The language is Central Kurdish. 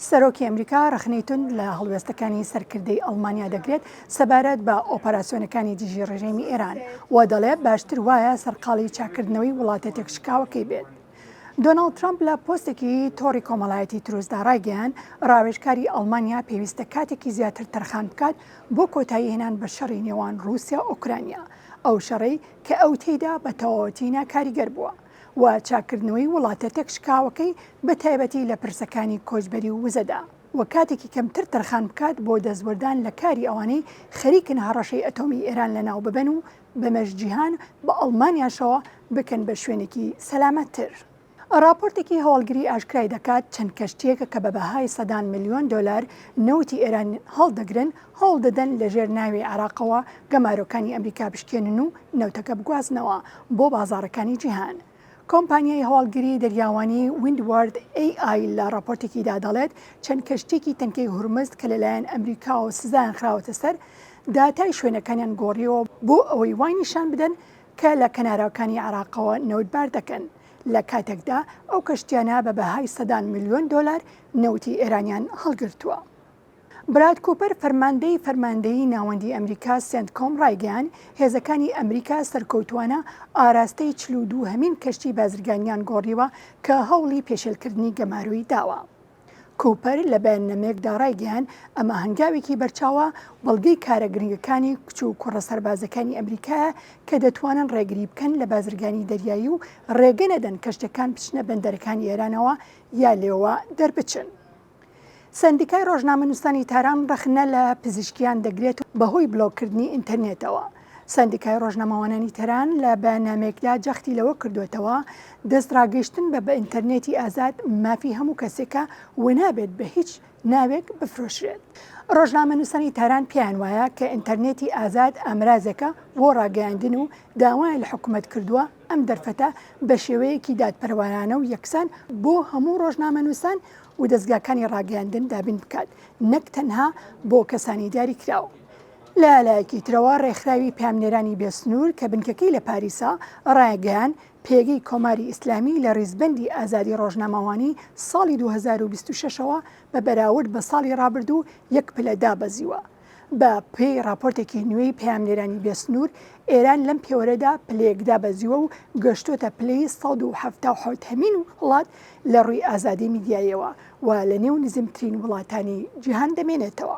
سەرۆکی ئەمریکا ڕەخنەی توند لە هەڵوێستەکانی سەرکردەی ئەڵمانیا دەگرێت سەبارەت بە ئۆپەراسیۆنەکانی دژی ڕژێمی ئێران و دەڵێت باشتر وایە سەرقاڵی چاککردنەوەی وڵاتە تێکشکاوەکەی بێت. دۆناڵد ترەمپ لە پۆستێکی تۆڕی کۆمەڵایەتی تروسدا ڕایگەیاند، ڕاوێژکاری ئەڵمانیا پێویستە کاتێکی زیاتر تەرخان بکات بۆ کۆتاییهێنان بە شەڕی نێوان ڕووسیا-ئۆکرانیا، ئەو شەڕەی کە ئەو تێیدا بە تەواوەتی ناکاریگەر بووە. و چاککردنەوەی وڵاتە تێکشکاوەکەی بە تایبەتی لە پرسەکانی کۆچبەری و وزەدا و کاتێکی کەمتر تەرخان بکات بۆ دەستوەردان لە کاری ئەوانەی خەریکن هەڕەشەی ئەتۆمی ئێران لەناو ببەن و بەمەش جیهان بە ئەڵمانیاشەوە بکەن بە شوێنێکی سەلامەتتر. ڕاپۆرتێکی هەواڵگری ئاشکرای دەکات چەند کەشتییەک کە بە بەهای سەدان ملیۆن دۆلار نەوتی ئێران هەڵدەگرن، هەوڵدەدەن لەژێر ناوی عێراقەوە گەمارۆکانی ئەمریکا بشکێنن و نەوتەکە بگوازنەوە بۆ بازاڕەکانی جیهان. کۆمپانیای هەواڵگری دەریاوانی Windward AI لە ڕاپۆرتێکیدا دەڵێت، چەند کەشتییەکی تەنکەی هورمزد کە لەلایەن ئەمریکاوە سزایان خراوەتە سەر، داتای شوێنەکانیان گۆڕیەوە بۆ ئەوەی وای نیشان بدەن کە لە کەناراوکانی عێراقەوە نەوتبار دەکەن، لە کاتێکدا ئەو کەشتییانە بە بەهای سەدان ملیۆن دۆلار نەوتی ئێرانیان هەڵگرتووە. براد کوپەر فەرماندەی فەرماندەیی ناوەندیی ئەمریکا سێنتکۆم ڕایگەیاند، هێزەکانی ئەمریکا سەرکەوتووانە ئاراستەی چل و دوو هەمین کەشتی بازرگانییان گۆڕیوە کە هەوڵی پێشێلکردنی گەمارۆی داوە. کوپەر لە بەیاننامەیەکدا ڕایگەیاند، ئەمە هەنگاوێکی بەرچاوە، بەڵگەی کارە گرنگەکانی کچ و کوڕە سەربازەکانی ئەمریکایە کە دەتوانن ڕێگری بکەن لە بازرگانی دەریایی و ڕێگە نەدەن کەشتییەکان بچنە بەندەرەکانی ئێرانەوە یا لێوە دەربچن. سەندیکای ڕۆژنامەنووسانی تاران ڕەخنە لە پزیشکیان دەگرێت بەهۆی بلۆککردنی ئینتەرنێتەوە. سەندیکای ڕۆژنەماوانانی تەران لە بەیاننامەیەکدا جەختی لەوە کردووەتەوە دەست ڕاگەیشتن بە بە ئینتەرنێتی ئازاد مافی هەموو کەسێکە و نابێت بە هیچ ناوێک بفرۆشرێت. ڕۆژنامەنووسانی تاران پێیان وایە کە ئینتەرنێتی ئازاد ئامرازێکە بۆ ڕاگەیاندن و داوایان لە حکومەت کردووە ئەم دەرفەتە بە شێوەیەکی دادپەروارانە و یەکسان بۆ هەموو ڕۆژنامەنووسان و دەزگاکانی ڕاگەیاندن دابین بکات نەک تەنها بۆ کەسانی دیاریکراو. لە لایەکی ترەوە ڕێکخراوی پەیامنێرانی بێ سنوور کە بنکەکەی لە پاریسە، ڕایگەیان پێگەی کۆماری ئیسلامی لە ڕیزبەندی ئازادی ڕۆژنامەوانی ساڵی دوو هەزار و بیست و شەش ەوە بە بەراورد بە ساڵی ڕابردوو یەک پلە دابەزیوە. بە پێی ڕاپۆرتێکی نوێی پەیامنێرانی بێ سنوور، ئێران لەم پێوەرەدا پلەیەک دابەزیوە و گەشتۆتە پلەی سەد و حەفتا و حەوت هەمین وڵات لە ڕووی ئازادی میدیایەوە و لە نێو نزمترین وڵاتانی جیهان دەمێنێتەوە.